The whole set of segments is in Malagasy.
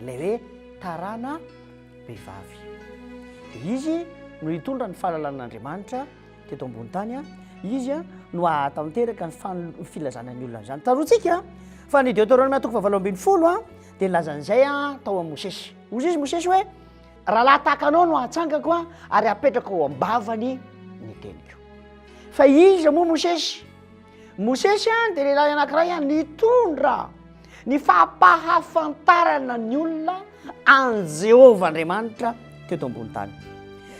ilay hoe tarana vehivavy. Dia izy no hitondra ny fahalalan'Andriamanitra teto ambony tany, izy no hahatanteraka ny fan- ny filazana ny olona izany. Tsaroantsika fa ny Deoteronomia toko fahavalo ambin'ny folo a, dia nilazana izay a tao amin'i Mosesy. Hoy izy Mosesy hoe, Rahalahy tahaka anao no hatsangako a, ary hapetrako ao am-bavany ny teniko. Fa iza moa Mosesy? Mosesy a dia lehilahy anankiray a nitondra. ny fampahafantarana ny olona any jehovah andriamanitra teto ambony tany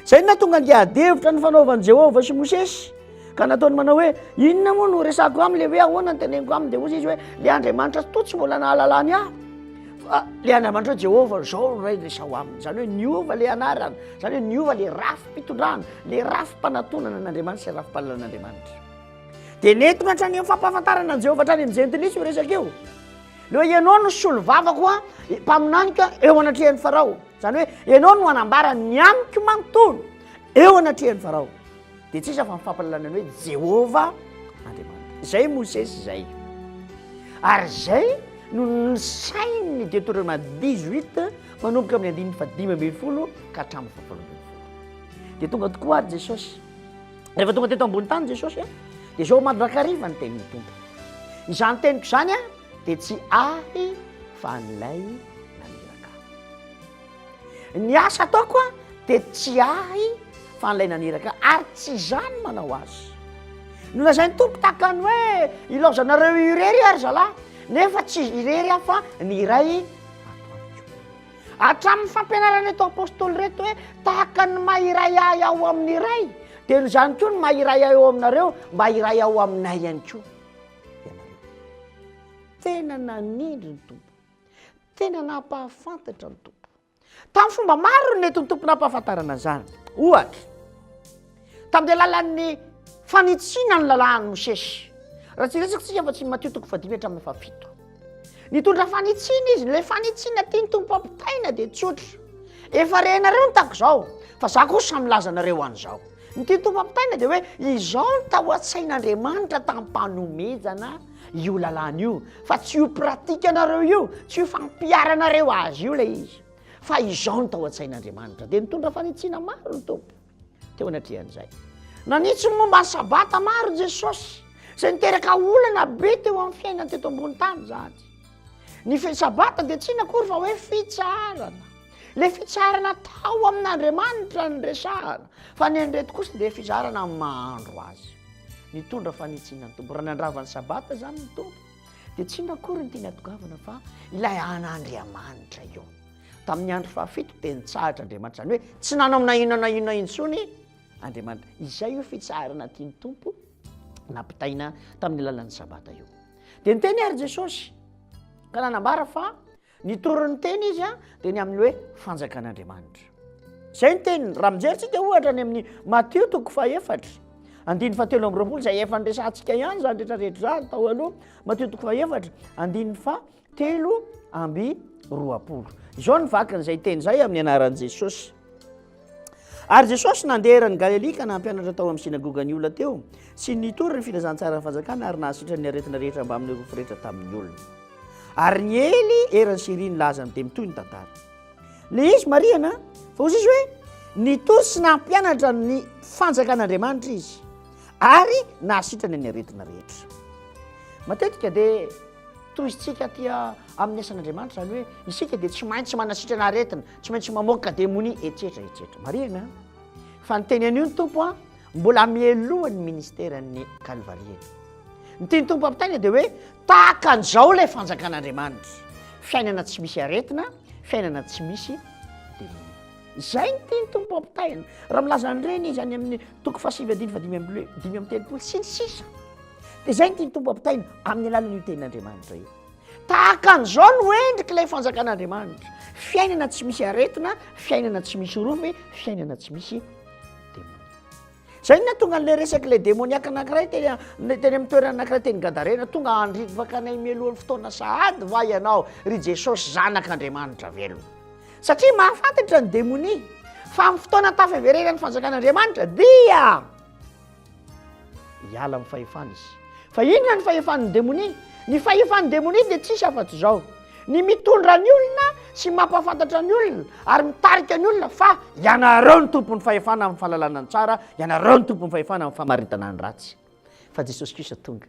zay no natonga andiadevitra ny fanaovan'i jehovah sy mosesy ka nataony manao hoe inona moa no resako aminy le hoe ahoana ny teneniko aminy de ozy izy hoe le andriamanitra toa tsy mbola nahalalany ahy fa le andriamanitra hoe jehovah zao no ray resao aminy zany hoe niova le anarany zany hoe niova le rafi-pitondrana le rafi-panatonana an'andriamanitra sy rafi-pahalalan'andriamanitra Dia nentina hatrany amin'ny fampahafantarana an'i Jehovah hatrany amin'ny jentilisa io resaka io. Ilay hoe ianao no solovavako a, mpaminaniko a, eo anatrehan'i Farao. Izany hoe ianao no hanambara ny amiko manontolo eo anatrehan'i Farao. Dia tsy iza fa ny fampahalalana ny hoe Jehovah Andriamanitra. Izay i Mosesy izay. Ary izay no nisain'ny Deuteroma 18 manomboka amin'ny andininy fahadimy ambin'ny folo ka hatramin'ny fahafolo ambin'ny folo. Dia tonga tokoa àry Jesosy. Rehefa tonga teto ambony tany Jesosy a, dia izao mandrakariva ny tenin'ny Tompo. Izany teniko izany a, dia tsy ahy fa an'ilay naniraka ahy. Ny asa ataoko a, dia tsy ahy fa an'ilay naniraka ahy, ary tsy izaho no manao azy. Nolazain'ny Tompo tahaka ny hoe ilaozanareo irery ary zalahy, nefa tsy irery aho fa ny Ray ato amiko. Hatramin'ny fampianaran'ireto apostoly ireto hoe tahaka ny maha iray ahy aho amin'ny iray, dia noho izany koa ny maha iray ahy ao aminareo mba iray ao aminay ihany koa ianareo. Tena nanindry ny Tompo, tena nampahafantatra ny Tompo. Tamin'ny fomba maro no nentin'ny Tompo nampahafantarana an'izany. Ohatra. Tamin'ny alalan'ny fanitsiana ny lalàn'i Mosesy. Raha tsy resaka tsika fa tsy Matio toko fahadimy hatramin'ny fahafito. Nitondra fanitsiana izy, ilay fanitsiana tiany tompo ampitaina dia tsotra. Efa renareo ny tako izao, fa za kosa milaza anareo an'izao. Ny tiany tompo ampitaina dia hoe izao ny tao an-tsain'Andriamanitra tam-panomezana io lalàna io, fa tsy io pratika anareo io, tsy io fampiharanareo azy io ilay izy, fa izao ny tao an-tsain'Andriamanitra. Dia nitondra fanitsiana maro ny tompo. teo anatrehan'izay. Nanitsy ny momba ny sabata maro Jesosy, izay niteraka olana be teo amin'ny fiainany teto ambony tany izany. Ny fe- sabata dia tsy inona akory fa hoe fitsarana. Ilay fitsarana tao amin'Andriamanitra ny resahana, fa ny an'ireto kosa dia fizarana amin'ny maha-andro azy. Nitondra fanitsiana ny Tompo. Raha nandrava ny sabata izany ny Tompo, dia tsy inona akory ny tiany hatongavana fa ilay an'Andriamanitra io. Tamin'ny andro fahafito dia nitsahatra Andriamanitra, izany hoe tsy nanao na inona na inona intsony Andriamanitra. Izay io fitsaharana tian'ny Tompo nampitaina tamin'ny alalan'ny sabata io. Dia niteny ary Jesosy ka nanambara fa nitory ny teny izy dia ny amin'ny hoe fanjakan'Andriamanitra. Izay ny teniny, raha mijerintsika ohatra any amin'ny Matio toko fahefatra, andiny fa telo amby roapolo izay efa niresantsika ihany izany rehetrarehetra izany tao aloha, Matio toko fahefatra, andiny fa telo amby roapolo izao ny vakin'izay teny izay amin'ny anaran'i jesosy ary jesosy nandeha eran'ny galelia ka nampianatra tao amin'ny sinagogany olona teo sy nitory ny filazantsaran'ny fanjakana ary nahasitran'ny aretina rehetra mbamin'ny rofo rehetra tamin'ny olona ary ny ely eran'ny syria ny laza ny dia mitoy ny tantara le izy mariana fa ozy izy hoe nitory sy nampianatra ny fanjakan'andriamanitra izy ary nahasitrany ny aretina rehetra matetika dia Tohizintsika aty amin'ny asan'Andriamanitra izany hoe isika dia tsy maintsy manasitrana aretina, tsy maintsy mamoaka demonia, etsetra etsetra. Marihana an! Fa ny teny anio ny Tompo an, mbola mialoha ny ministeran'ny kalvariany. Ny tian'ny Tompo ampitaina dia hoe tahaka an'izao ilay fanjakan'Andriamanitra, fiainana tsy misy aretina, fiainana tsy misy Izay ny tian'ny Tompo ampitaina. Raha milaza an'ireny izy any amin'ny toko fahasivy andiny fahadimy amby roa- dimy amby telopolo sy ny sisa. Dia izay no tian'ny Tompo ampitaina amin'ny alalan'io tenin'Andriamanitra io. Tahaka an'izao no endrik'ilay fanjakan'Andriamanitra, fiainana tsy misy aretina, fiainana tsy misy orofy, fiainana tsy misy demony. Izay no nahatonga an'ilay resak'ilay demoniaka anankiray teny teny amin'ny toerana anankiray teny Gadarena, tonga handrivaka anay mialohan'ny fotoana sahady va ianao, ry Jesosy Zanak'Andriamanitra velona? Satria mahafantatra ny demonia fa amin'ny fotoana tafaverena ny fanjakan'Andriamanitra dia Hiala amin'ny fahefany izy. Fa inona ny fahefan'ny demonia? Ny fahefan'ny demonia dia tsisy afa-tsy izao, ny mitondra ny olona sy mampahafantatra ny olona ary mitarika ny olona fa ianareo ny tompon'ny fahefana amin'ny fahalalana ny tsara, ianareo ny tompon'ny fahefana amin'ny famaritana ny ratsy. Fa Jesosy Kristy tonga.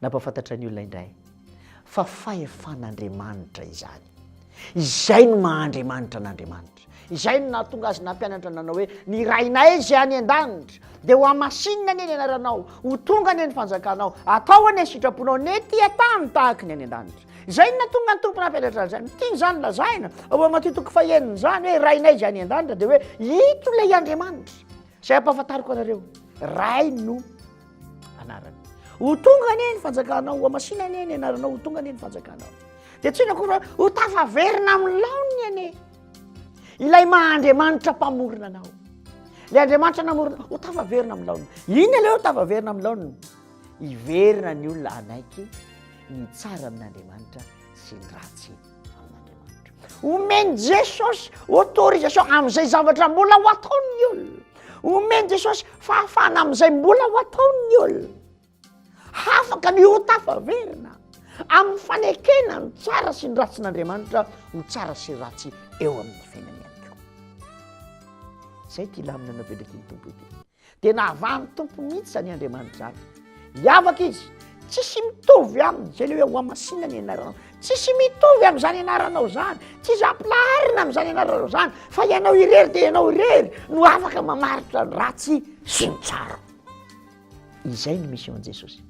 Nampahafantatra ny olona indray fa fahefan'Andriamanitra izany. Izay no maha-Andriamanitra an'Andriamanitra. Izay no nahatonga azy nampianatra nanao hoe ny Rainay izay any an-danitra dia ho hamasinina anie ny anaranao, ho tonga anie ny fanjakanao, atao anie ny sitraponao ny ety an-tany tahaka ny any an-danitra. Izay no nahatonga ny Tompo nampianatra azy izany. Tiany izany lazaina ao amin'ny Matio toko fahenina izany hoe Rainay izay any an-danitra dia hoe ito ilay Andriamanitra. Zay ampahafantariko anareo, Ray no anarany. Ho tonga anie ny fanjakanao, ho amasina anie ny anaranao, ho tonga anie ny fanjakanao. Dia tsy inona koa ho tafaverina amin'ny laoniny anie. Ilay maha Andriamanitra mpamorona anao. Ilay Andriamanitra namorona, ho tafaverina amin'ny laoniny. Inona ilay hoe tafaverina amin'ny laoniny? Hiverina ny olona hanaiky ny tsara amin'Andriamanitra sy ny ratsy. omeny jesosy autorisation amin'izay zavatra mbola ho ataon'ny olona omeny jesosy fahafahana amin'izay mbola ho ataon'ny olona hafaka ny hotafaverina amin'ny fanekena ny tsara sy ny ratsin'andriamanitra ho tsara sy ratsy eo amin'ny fiainanyanko zay ty laminana be ndraky ny tompo ity dia nahavahan'ny Tompo mihitsy izany Andriamanitra izany. Hiavaka izy, tsisy mitovy aminy, izay le hoe ho amasina ny anaranao. Tsisy mitovy amin'izany anaranao izany, tsisy ampilaharina amin'izany anaranao izany, fa ianao irery dia ianao irery no afaka mamaritra ny ratsy sy ny tsara. Izay ny mission an'i Jesosy.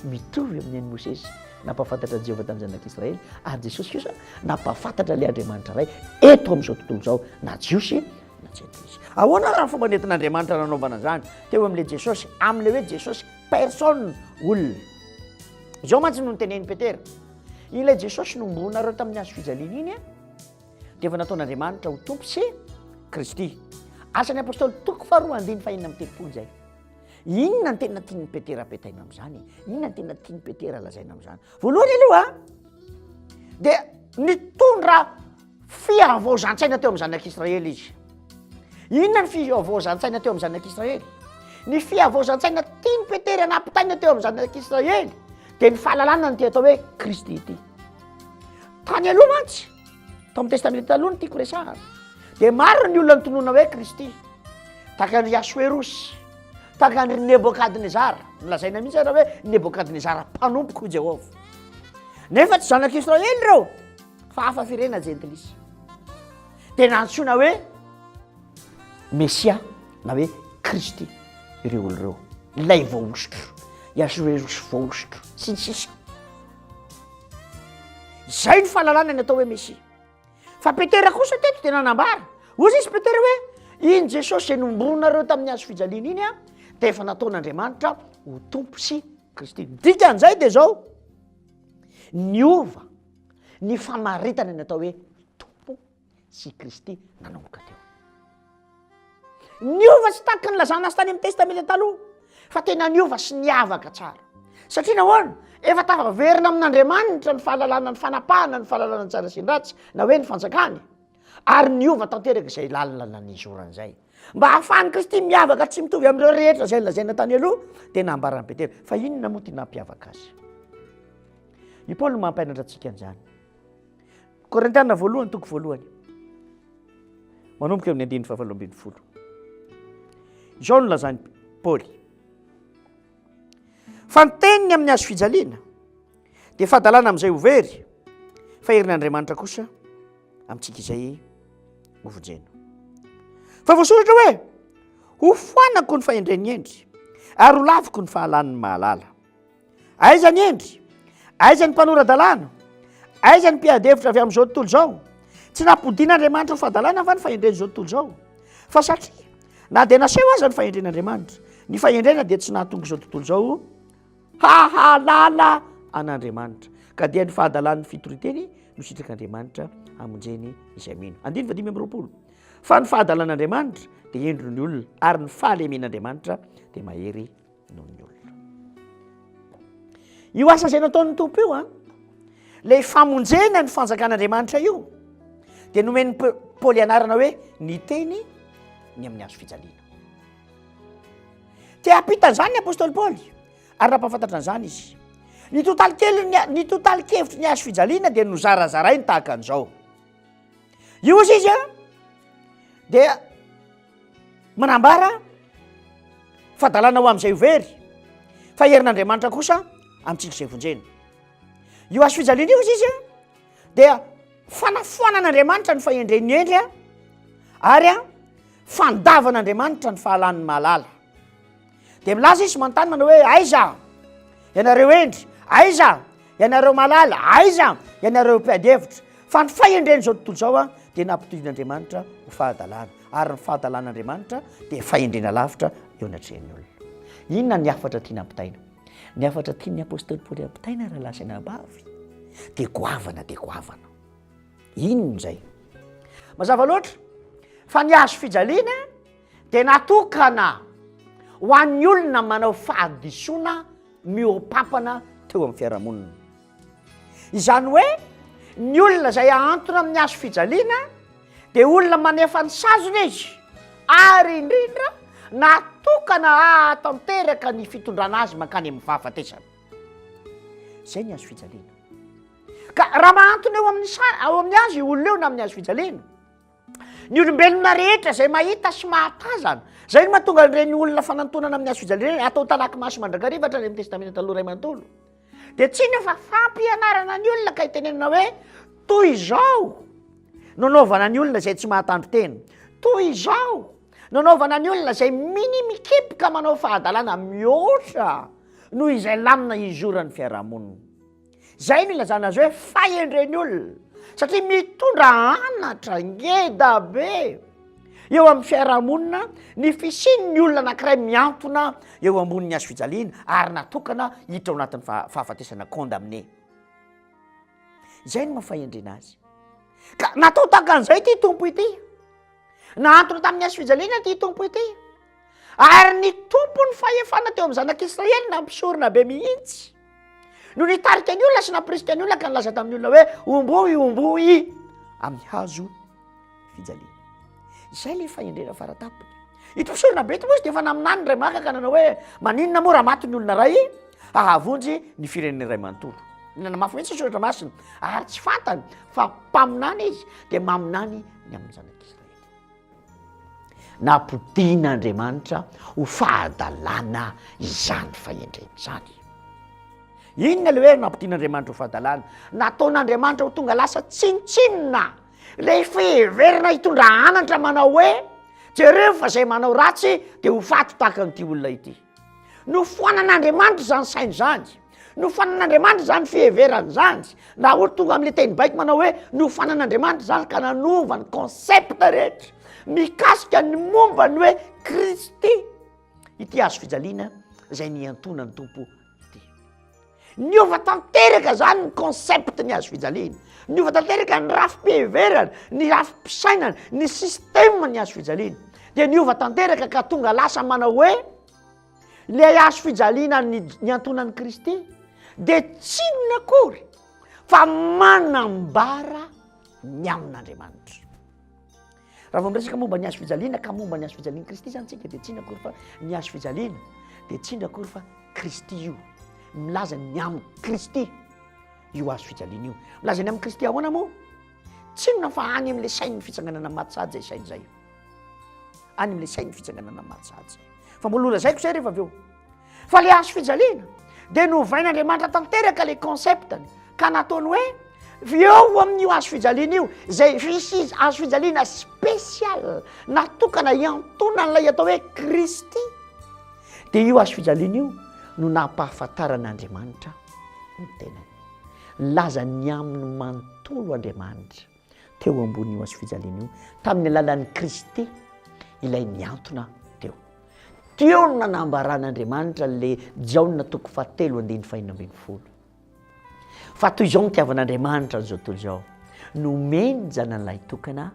Mitovy amin'ny an'i Mosesy nampahafantatra an'i Jehovah tamin'ny zanak'Israely, ary Jesosy kosa nampahafantatra ilay Andriamanitra iray eto amin'izao tontolo izao na Jiosy na tsy haiko mihitsy. Ahoana ary ny fomba nentin'Andriamanitra nanaovana izany teo amin'ilay Jesosy, amin'ilay hoe Jesosy personne, olona? Izao mantsy no notenenin'i Petera, Ilay Jesosy nombonareo tamin'ny hazo fijaliana iny, dia efa nataon'Andriamanitra ho Tompo sy Kristy. Asan'ny Apôstôly toko faharoa andiny fahenina amby telopolo izay. Inona ny tena tian'i Petera apetaina amin'izany? Inona ny tena tian'i Petera lazaina amin'izany? Voalohany aloha dia nitondra Fihavaozan-tsaina teo amin'ny zanak'Israely izy. Inona ny fihavaozan-tsaina teo amin'ny zanak'Israely? Ny fihavaozan-tsaina tiany Petera nampitaina teo amin'ny zanak'Israely dia ny fahalalana ny atao hoe Kristy ity. Tany aloha mantsy, tao amin'ny Testamenta Taloha ny tiako resahana, dia maro ny olona nitonona hoe Kristy, tahaka an'i Asoerosy, tahaka an'i Nebokadnezara, nolazaina mihitsy ary hoe Nebokadnezara mpanompoko i Jehovah. Nefa tsy zanak'Israely ireo. Fa hafa firena jentilisa. Dia nantsoina hoe Mesia na hoe Kristy ireo olo ireo. Ilay voahosotra, i Asoerosy voahosotra, sy ny sisa. Izay no fahalalana ny atao hoe Mesia. Fa Petera kosa teto dia nanambara. Hoy izy Petera hoe iny Jesosy izay nombronareo tamin'ny hazo fijaliana iny dia efa nataon'Andriamanitra ho Tompo sy Kristy. Ny dikan'izay dia izao, niova. ny famaritana ny atao hoe Tompo sy i Kristy nanomboka teo. Niova tsy tahaky ny lazana azy tany amin'ny Testamenta Taloha, fa tena niova sy niavaka tsara. Satria nahoana? Efa tafaverina amin'Andriamanitra ny fahalalana ny fanapahana ny fahalalana ny tsara sy ny ratsy na hoe ny fanjakany, ary niova tanteraka izay lalina nanizorany izay. mba hahafahan'i kristy miavaka tsy mitovy amin'ireo rehetra izay nolazaina tany aloha dia nambaran'i petera fa inona moa ty nampiavaka azy i paoly mampianatra antsika an'izany korintiana voalohany toko voalohany manomboka eo ny andininy fahavalo ambin'ny folo izao no lazan'i paoly Fa ny teniny amin'ny hazo fijaliana dia fadalana amin'izay ho very, fa herin'Andriamanitra kosa amintsika izay hovonjena. Fa voasoratra hoe, ho foanako ny fahendren'ny hendry, ary ho laviko ny fahalan'ny mahalala. Aiza ny hendry? Aiza ny mpanora-dalàna? Aiza ny mpiady hevitra avy amin'izao tontolo izao? Tsy nampodian'Andriamanitra ho fadalana va ny fahendren'izao tontolo izao? Fa satria Na dia naseho aza ny fahendren'Andriamanitra, ny fahendrena dia tsy nahatonga izao tontolo izao hahalala an'Andriamanitra, ka dia ny fahadalan'ny fitoriteny no sitrak'Andriamanitra hamonjeny izay mino. Andininy vadimy amby roapolo. Fa ny fahadalan'Andriamanitra dia hendry ny olona, ary ny fahalemen'Andriamanitra dia mahery. noho ny olona io asa izay nataon'ny tompo io a lay famonjena ny fanjakan'andriamanitra io dia nomen'ny paoly anarana hoe ny teny ny amin'ny azo fijaliana te hampita an'izany ny apôstôly paoly ary nampahafantatra an'izany izy ny totaly kely ny ny totaly kevitry ny azo fijaliana dia nozarazarainy tahaka an'izao io izy izy a dia manambara fa dalana ho amin'izay ho very fa herin'andriamanitra kosa amintsika izay vonjena io azo fijaliana io izy izy a dia fanafoanan'andriamanitra ny fahendren'ny hendry a ary a fandavan'andriamanitra ny fahalan'ny mahalala dia milaza izy manontany manao hoe aiza ianareo hendry aiza ianareo malala aiza ianareo mpiadevitra fa ny fahendreny zao tontolo zao a dia nampitohin'andriamanitra ho fahadalana ary ny fahadalan'andriamanitra dia fahendrena lavitra eo anatrehan'ny olona inona ny afatra tiana ampitaina ny afatra tian'ny apôstôly paoly ampitaina raha lahy sy anabavy dia goavana dia goavana inona izay mazava loatra fa ny azo fijaliana dia natokana ho an'ny olona manao fahadisoana mihoa-pampana teo amin'ny fiarahamonina. Izany hoe ny olona izay ahantona amin'ny hazo fijaliana dia olona manefa ny sazina izy ary indrindra natokana hahatanteraka ny fitondrana azy mankany amin'ny fahafatesana. Izay ny hazo fijaliana. Ka raha mahantona eo amin'ny sa- ao amin'ny hazo io olona eo na amin'ny hazo fijaliana, Ny olombelona rehetra izay mahita sy mahatazana. Izay no mahatonga an'ireny olona fanantonana amin'ny hasojalina ireny atao talaky maso mandrakariva hatrany amin'ny testamenta taloha iray manontolo. Dia tsy inona fa fampianarana ny olona ka itenenana hoe toy izao no anaovana ny olona izay tsy mahatandrin-tena. Toy izao no anaovana ny olona izay mini-mikipoka manao fahadalana mihoatra noho izay lamina izoran'ny fiarahamonina. Izay no ilazana azy hoe fahendren'ny olona satria mitondra anatra ngeda be eo amin'ny fiarahamonina ny fisian'ny olona anankiray miantona eo ambonin'ny hazo fijaliana ary natokana hiditra ao anatin'ny fahafatesana, condamné. Izay no maha fahendrena azy. Ka natao tahaka an'izay ity Tompo ity. Nahantona tamin'ny hazo fijaliana ity Tompo ity. Ary ny tompon'ny fahefana teo amin'ny zanak'Israely nampisorona be mihitsy no nitarika ny olona sy nampirisika ny olona ka nilaza tamin'ny olona hoe omboy omboy amin'ny hazo fijaliana. Izay ilay fahendrena faratampony. Ito mpisorona be ito moa izy dia efa naminany iray maka ka nanao hoe maninona moa raha maty ny olona iray hahavonjy ny firenena iray manontolo. Nanamafy mihitsy ny soratra masina ary tsy fantany fa mpaminany izy dia maminany ny amin'ny zanak'Israely. Nampodian'Andriamanitra ho fahadalana izany fahendrena izany. Inona ilay hoe nampodian'Andriamanitra ho fahadalana? Nataon'Andriamanitra ho tonga lasa tsinontsinona ilay fiheverana hitondra anatra manao hoe jereo fa izay manao ratsy dia ho faty tahaka an'ity olona ity. Nofoanan'Andriamanitra izany saina izany, nofoanan'Andriamanitra izany fiheverana izany, na ohatra tonga amin'ilay teny baiko manao hoe nofoanan'Andriamanitra izany ka nanova ny concept rehetra mikasika ny momba ny hoe Kristy ity hazo fijaliana izay nihantoana ny Tompo ity. Niova tanteraka zany ny concept ny hazo fijaliana, niova tanteraka ny rafi-piheverana, ny rafi-pisainana, ny système ny hazo fijaliana, dia niova tanteraka ka tonga lasa manao hoe ilay hazo fijaliana niantonan'i Kristy dia tsy inona akory fa manambara ny amin'Andriamanitra. Raha vao miresaka momba ny hazo fijaliana ka momba ny hazo fijalian'i Kristy izany isika dia tsy inona akory fa ny hazo fijaliana dia tsy inona akory fa Kristy io. Milaza ny amin'i Kristy io hazo fijaliana io. Milaza ny amin'i Kristy ahoana moa? Tsy inona fa any amin'ilay sain'ny fitsanganana maty sahady izay saina izay. Any amin'ilay sain'ny fitsanganana maty sahady izay. Fa mbola holazaiko izay rehefa avy eo. fa le hazo fijaliana dia novain'Andriamanitra tanteraka le conceptny ka nataony hoe eo amin'io hazo fijaliana io zay visy hazo fijaliana special natokana hiantonan'ilay atao hoe Kristy dia io hazo fijaliana io no nampahafantaran'Andriamanitra ny tenany nilazany aminy manontolo Andriamanitra teo ambonin'io hazofijaliana io, tamin'ny alalan'i Kristy ilay nihantona teo. Teo no nanambaran'Andriamanitra an'ilay Jaona toko fahatelo andininy fahenina ambin'ny folo, fa toy izao nitiavan'Andriamanitra an'izao tontolo izao, nomeny ny Zanany lahy tokana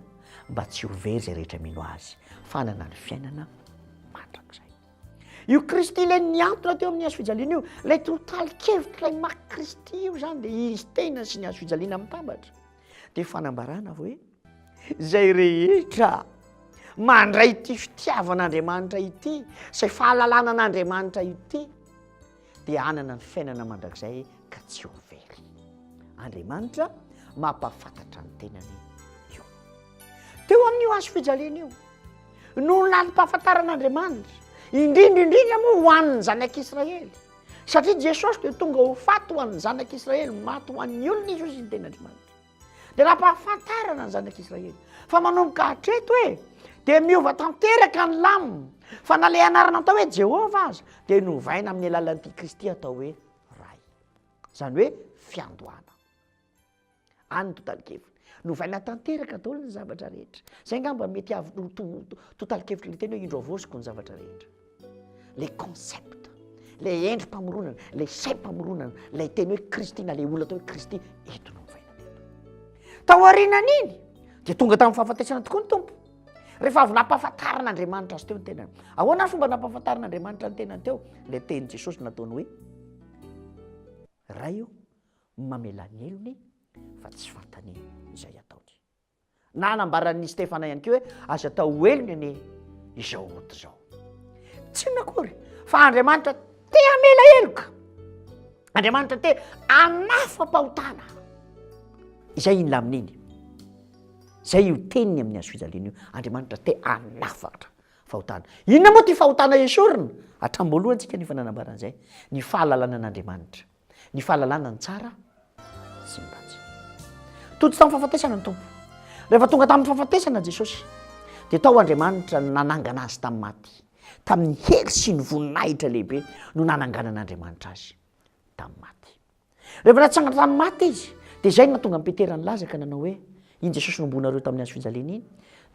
mba tsy ho very izay rehetra mino Azy, fa hanana ny fiainana mandrakizay. Io Kristy ilay nihantona teo amin'ny hazofijaliana io, ilay tontalin-kevitra ilay maka Kristy io izany dia izy tena sy ny hazofijaliana mitambatra. dia fanambarana hoe izay rehetra mandray ity fitiavan'andriamanitra ity izay fahalalana an'andriamanitra ity dia anana ny fiainana mandrakizay ka tsy ho very andriamanitra mampafantatra ny tenany io teo amin'io azo fijaliana io noho ny lalim-pahafantaran'andriamanitra indrindra indrindra moa ho an'ny zanak'israely Satria Jesosy dia tonga ho faty ho an'ny zanak'Israely, maty ho an'ny olona izy hoy izy ny tenin'Andriamanitra. Dia nampahafantarana ny zanak'Israely fa manomboka hatreto hoe dia miova tanteraka ny lamina fa na ilay anarana atao hoe Jehovah aza dia novaina amin'ny alalan'ity Kristy atao hoe Ray. Izany hoe fiandohana. Any ny totalin-keviny. Novaina tanteraka daholo ny zavatra rehetra. Izay angamba mety avy ho totalin-kevitry ilay teny hoe indro havaoziko ny zavatra rehetra. Ilay concept, ilay endri-pamoronana, ilay saim-pamoronana, ilay teny hoe Kristy na ilay olona atao hoe Kristy, eto no novaina teto. Tao aorianan'iny dia tonga tamin'ny fahafatesana tokoa ny Tompo. Rehefa avy nampahafantarin'Andriamanitra azy teo ny tenany. Ahoana fomba nampahafantarin'Andriamanitra ny tenany teo? Ilay tenin'i Jesosy nataony hoe Ray ô, mamela ny helony fa tsy fantany izay ataony. Nanambaran'i Stefana ihany koa hoe aza atao ho helony anie izao ota izao. Tsy inona akory fa Andriamanitra te hamela heloka. Andriamanitra te hanafam-pahotana. Izay iny lamin'iny. Izay io teniny amin'ny hazofijaliana io. Andriamanitra te hanafatra fahotana. Inona moa ity fahotana esorina? Hatramboalohantsika ny efa nanambarana izay. Ny fahalalana an'Andriamanitra. ny fahalalana ny tsara sy ny ratsy. Tojo tamin'ny fahafatesana ny Tompo. Rehefa tonga tamin'ny fahafatesana Jesosy, dia tao Andriamanitra no nanangana azy tamin'ny maty. Tamin'ny hery sy ny voninahitra lehibe no nananganan'Andriamanitra azy tamin'ny maty. Rehefa natsangana tamin'ny maty izy, dia izay no nahatonga an'i Petera nilaza ka nanao hoe, Iny Jesosy nomboanareo tamin'ny hazo fijaliana iny,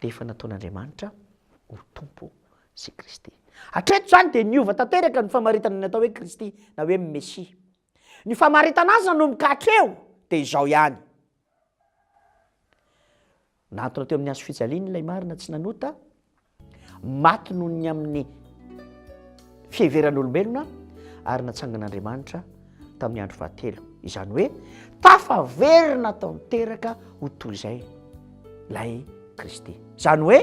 dia efa nataon'Andriamanitra ho Tompo sy Kristy. Hatreto izany dia niova tanteraka ny famaritana ny atao hoe Kristy na hoe Mesia. Ny famaritana azy nanomboka hatreo dia izao ihany. Nahantona teo amin'ny hazo fijaliany ilay marina tsy nanota, maty noho ny amin'ny fiheveran'olombelona ary natsangan'Andriamanitra tamin'ny andro fahatelo, izany hoe tafaverina tanteraka ho toy izay ilay Kristy. Izany hoe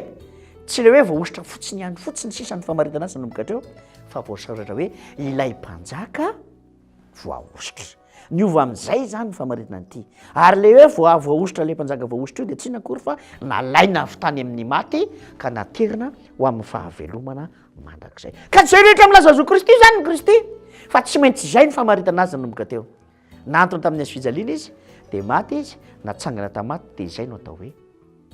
tsy ilay hoe voahosotra fotsiny ihany fotsiny sisa ny famaritana azy nanomboka hatreo, fa voasoratra hoe ilay mpanjaka voahosotra. Niova amin'izay izany ny famaritana an'ity. Ary ilay hoe voa- voahosotra ilay mpanjaka voahosotra io dia tsy inona akory fa nalaina avy tany amin'ny maty ka naterina ho amin'ny fahavelomana mandrakizay. Ka izay rehetra milaza zo Kristy izany ny Kristy, fa tsy maintsy izay ny famaritana azy nanomboka teo. Nantona tamin'ny hazo fijaliana izy, dia maty izy, natsangana tamin'ny maty, dia izay no atao hoe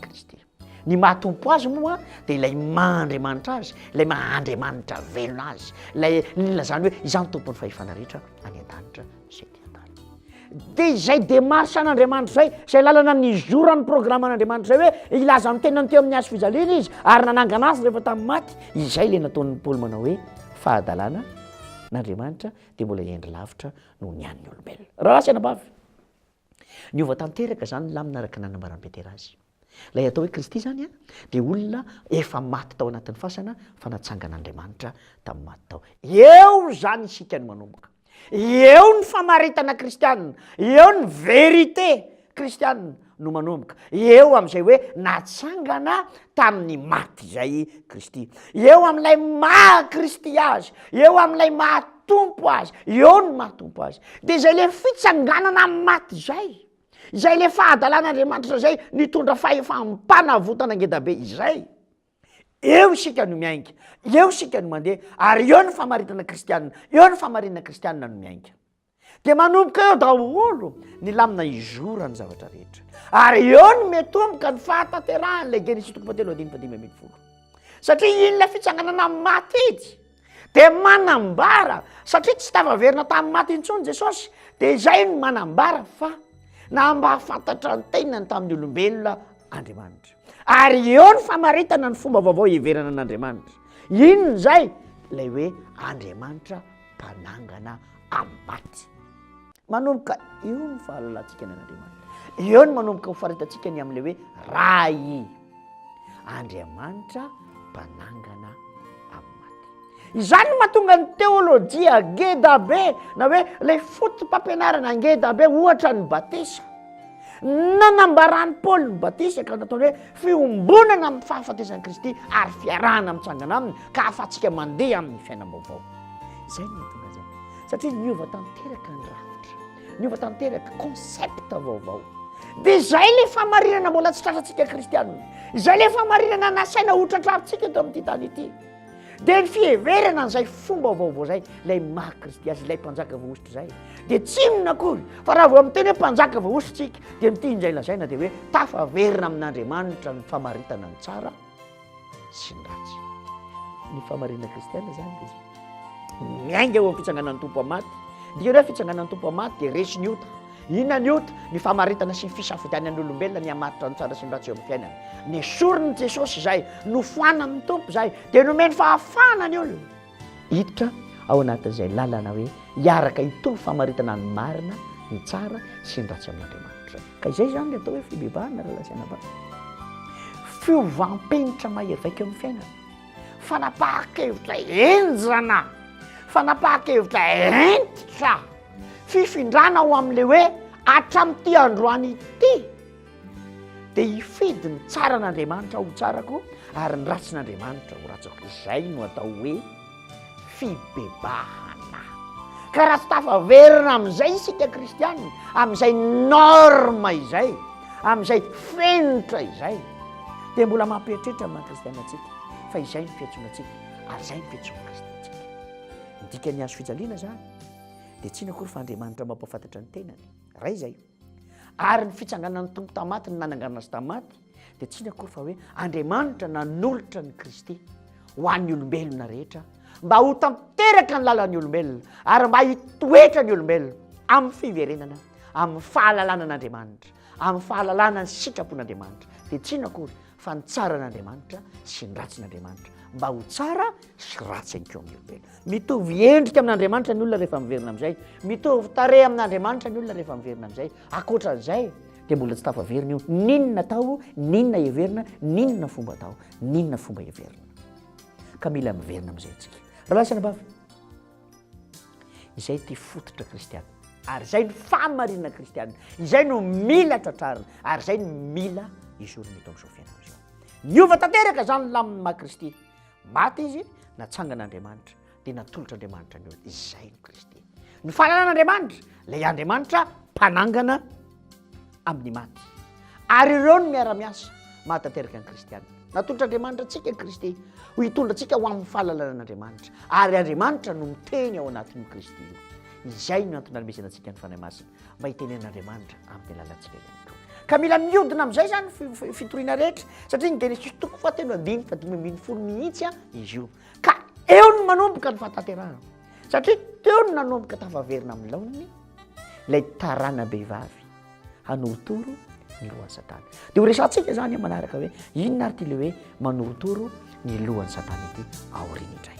Kristy. Ny maha-tompo azy moa dia ilay maha-andriamanitra azy, ilay maha-andriamanitra velona azy, ilay nilazany hoe izany tompon'ny fahefana rehetra any an-danitra sy ety eo tany. Dia izay démarche an'Andriamanitra izay, izay lalana nizoran'ny programan'Andriamanitra izay hoe hilaza ny tenany teo amin'ny hazo fijaliana izy ary nanangana azy rehefa tamin'ny maty, izay ilay nataon'i Paoly manao hoe fahadalana n'Andriamanitra dia mbola hendry lavitra noho ny an'ny olombelona. Rahalahy sy anabavy, niova tanteraka izany lamina araka ny nanambaran'i Petera azy. Ilay atao hoe Kristy izany dia olona efa maty tao anatin'ny fasana fa natsangan'Andriamanitra tamin'ny maty tao. Eo izany isika no manomboka. Eo ny famaritana kristianina, eo ny vérité kristianina no manomboka. Eo amin'izay hoe natsangana tamin'ny maty izay i Kristy. Eo amin'ilay maha Kristy azy, eo amin'ilay maha Tompo azy, eo ny maha Tompo azy. Dia izay ilay fitsanganana amin'ny maty izay izay le fahadalan'Andriamanitra izay nitondra fahefam panavotana ngeda be izay, eo isika no miainga, eo isika no mandeha, ary eo ny famaritana kristiana, eo ny famarinana kristiana no miainga. Dia manomboka eo daholo ny lamina izora ny zavatra rehetra, ary eo no miatomboka ny fahatanterahan'ilay Genesisy toko fahatelo andininy fahadimy ambin'ny folo, satria iny ilay fitsanganana amin'ny maty iny. de manambara satria tsy tafaverina tamin'ny maty intsony jesosy de izay no manambara fa na mba hafantatra ny tenany tamin'ny olombelona andriamanitra ary eo ny famaritana ny fomba vaovao hiverana an'andriamanitra inona izay lay hoe andriamanitra mpanangana am'y maty Manomboka eo ny fahalalantsika ny an'Andriamanitra. Eo no manomboka ho faritantsika ny amin'ilay hoe Ray, Andriamanitra mpanangana Izany no mahatonga ny teolojia ngeda be na hoe ilay foto-pampianarana ngeda be ohatra ny batisa. Nanambaran'i Paoly ny batisa ka nataony hoe fiombonana amin'ny fahafatesan'i Kristy ary fiarahana mitsangana aminy ka ahafahantsika mandeha amin'ny fiainam-baovao. Izay no mahatonga izay. satria niova tanteraka ny rafitra niova tanteraka concept vaovao dia izay le famarinana mbola tsy tratratsika kristianina izay le famarinana nasaina hotratrarintsika eto amin'ity tany ity dia ny fiheverana an'izay fomba vaovao zay lay maha kristy azy ilay mpanjaka voahositra zay dia tsinona akory fa raha vao amin'ny teny hoe mpanjaka voahositsika dia mitia injay lazaina dia hoe tafaverina amin'andriamanitra ny famaritana ny tsara sy ny ratsy. Ny fahamarinana kristiana izany dia miainga eo amin'ny fitsanganan'ny tompo amin'ny maty. Dia ireo fitsanganan'ny tompo amin'ny maty dia resy ny ota. Inona ny ota? Ny famaritana sy ny fisafidianan'ny olombelona ny hamaritra ny tsara sy ny ratsy eo amin'ny fiainana. Nesorin'i Jesosy izay, nofoanan'ny tompo izay, dia nomeny fahafahana ny olona. Hiditra ao anatin'izay lalana hoe hiaraka hitovy famaritana ny marina, ny tsara sy ny ratsy amin'Andriamanitra. Ka izay izany ilay atao hoe fibebahana ry lazaina ba? Fiovam-penitra mahery vaika eo amin'ny fiainana. Fanapahan-kevitra henjana, fanapahan-kevitra hentitra, fifindrana ho amin'ilay hoe hatramin'ity androany ity. Dia hifidy ny tsaran'Andriamanitra ho tsarako ary ny ratsin'Andriamanitra ho ratsiko. Izay no atao hoe fibebahana. Ka raha tsy tafaverina amin'izay isika kristianina, amin'izay norme izay, amin'izay fenitra izay, dia mbola mampieritreritra ny maha kristianina antsika fa izay ny fiantsoana antsika ary izay ny fiantsoan'ny Kristy antsika. Ny dikan'ny hazo fijaliana izany dia tsy inona akory fa Andriamanitra mampahafantatra ny tenany. Ray izay. Ary ny fitsanganan'ny Tompo tamaty ny nanangana azy tamaty dia tsy ny akory fa hoe Andriamanitra nanolotra ny Kristy ho an'ny olombelona rehetra mba ho tanteraka ny lalan'ny olombelona ary mba hitoetra ny olombelona amin'ny fiverenana amin'ny fahalalana an'Andriamanitra amin'ny fahalalana ny sitrapon'Andriamanitra dia tsy ny akory fa ny tsaran'Andriamanitra sy ny ratsin'Andriamanitra mba ho tsara sy ratsy anko amin'ny olombelona mitovy endrika amin'Andriamanitra ny olona rehefa miverina amin'izay mitovy tare amin'Andriamanitra ny olona rehefa miverina amin'izay akoatra an'izay dia mbola tsy tafaverina io ninona atao ninona heverina ninona fomba atao ninona fomba heverina ka mila miverina amin'izay ntsika raha lahy sy anabavy Izay ity fototra kristiana, ary izay no fahamarinana kristiana, izay no mila tratrarina, ary izay no mila izorina eto amin'izao fiainana izao. Niova tanteraka izany lamin'ny maha Kristy. Maty izy, natsangan'Andriamanitra, dia natolotr'Andriamanitra ny olona. Izay no Kristy. Ny fahalalana Andriamanitra, ilay Andriamanitra mpanangana. amin'ny maty. Ary ireo no miara-miasa mahatanteraka ny kristianina. Natolotr'Andriamanitra antsika i Kristy ho hitondra antsika ho amin'ny fahalalana an'Andriamanitra, ary Andriamanitra no miteny ao anatin'io Kristy io. Izay no antony nanomezana antsika ny Fanahy Masina, mba hitenenan'Andriamanitra amin'ny alalantsika ihany koa. Ka mila miodina amin'izay izany fitoriana rehetra, satria ny Genesisy toko fahatelo andiny fahadimy ambin'ny folo mihitsy izy io. Ka eo no manomboka ny fahatanterahana, satria teo no nanomboka tafaverina amin'ny laoniny, ilay taranam-behivavy hanorotoro ny lohan'i Satana. Dia horesahantsika izany manaraka hoe inona ary ity ilay hoe manorotoro ny lohan'i Satana ity aoriana indray.